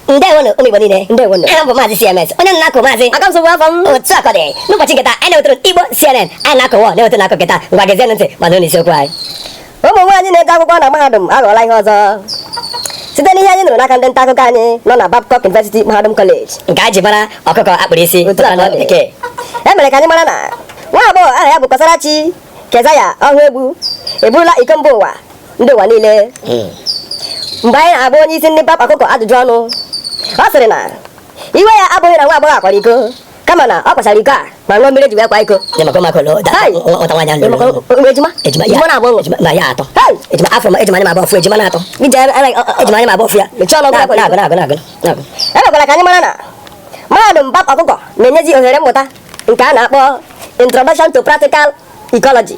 ndewonu ụmụ igbo niile ndewonu aha m bụ maazị cms onye m na-akụ maazị aka nsogbu afọ m otu akụkọ dị n'ụbọchị nke taa anyị na-ewetara igbo cnn anyị na-akọwa na-ewetara akụkọ nke taa ngwa gezienụ ntị ma nụrụ isiokwu anyị ụmụ nwaanyị na-ede akwụkwọ na mahadum aghọọla ihe ọzọ site n'ihe anyị nụrụ n'aka ndị nta akụkọ anyị nọ na Babcock University Mahadum College nke anyị ji mara ọkụkọ akpụrụ isi Otu a ka ọ dị. bekee e mere ka anyị mara na nwa agbọghọ aha ya bụ Kọsarachi Keziah Ọhaegbu eburula iko mba ụwa ndị ụwa niile hmm. mgbe anyị na-agba onye isi ndị babcock ajụjụ ọnụ ọ sịrị na iwe ya abụghị na nwa agbọghọ a kwara iko kama na ọ kwachara iko a ma ṅụọ mmiri ji wee kwa iko ejima na-agba ọfụ ejima na-atọ ejima anyị na-agba ọfụ ya emekwara ka anyị mara na mahadum bab ọkụkọ na-enyezi ohere mmụta nke a na-akpọ introduction to practical ecology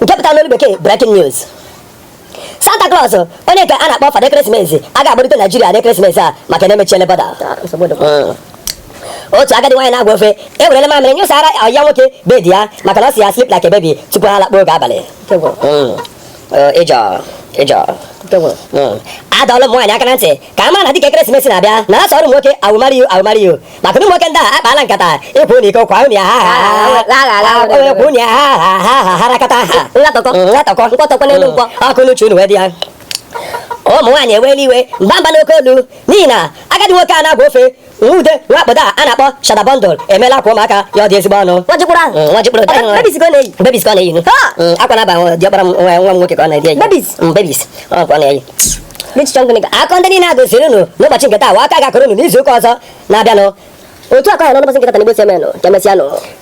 nke pụtara n'olu bekee breaking news Santa Claus onye nke a na-akpọ fada ekeresimesi agaghị agbarute Naijiria n'ekeresimesi a maka na emechiele bọda otu agadi nwaanyị na-agwa ofe ewerele mamịrị nyụsara ọyị ya nwoke bedi ya maka na ọ si ya sleep like a baby tupu ha lakpuo oge abalị ịjọ ịjọ adọọla ụmụ nwaanyị aka na ntị ka ha mara na dịka ekeresimesi na-abịa na asọ ọrụ nwoke awụmariyo awụmariyo maka ụmụ nwoke ndị a akpaala nkata ịkwụ ụlọ iko kwa ụnụ ya ha ha kwa ụnụ ya ha ha ha ha harakata ha nlatọkọ nlatọkọ nkwọtọkọ n'elu nkwọ ọkụ n'uche unu wee dị ya ụmụ nwaanyị ewela iwe mba mba n'oke olu n'ihi na agadi nwoke a na-agba ofe Ude nwa obodo a na-akpọ Shatta Bandle emeela akwa ụmụaka ya ọ dị ezigbo ọnụ. Nwa jikpụrụ ahụ. Nwa jikpụrụ. Bebis ka ọ na-eyi. Bebis ka ọ na-eyi. Akwa na-aba diọkpara m nwa m nwoke ka ọ na-eyi. Bebis. Bebis. Ọ ka ọ na-eyi. Akụkọ ndị niile a gosiri unu n'ụbọchị nke taa wa a ka ga-akọrọ unu n'izu ụka ọzọ na-abịanụ. Otu akụkọ ha n'ụbọsị nke taa na igbo cnn ka emesịa nụ.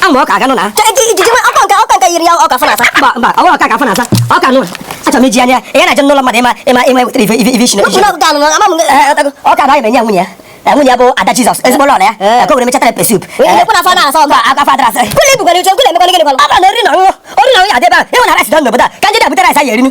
Amụ ọka aganụ na. Ọka nka ọka nka yiri ya ọka afọ na-asa. Mba mba ọ bụrụ ọka ka afọ na-asa. Ọka nụ. Achọrọ m iji anya ya na-eje n'ụlọ mmadụ ịma ịma ịma ewetara ife ife isi na isi. Ọka na anyị menye nwunye ya. nwunye ya bụ ada jizọs ezigbo lọrọ ya ka o were mechatara pepper soup aka fadara asa ebe a ịhụ na rice dọ n'obodo a ka ndị na-abụta rice anyị erinu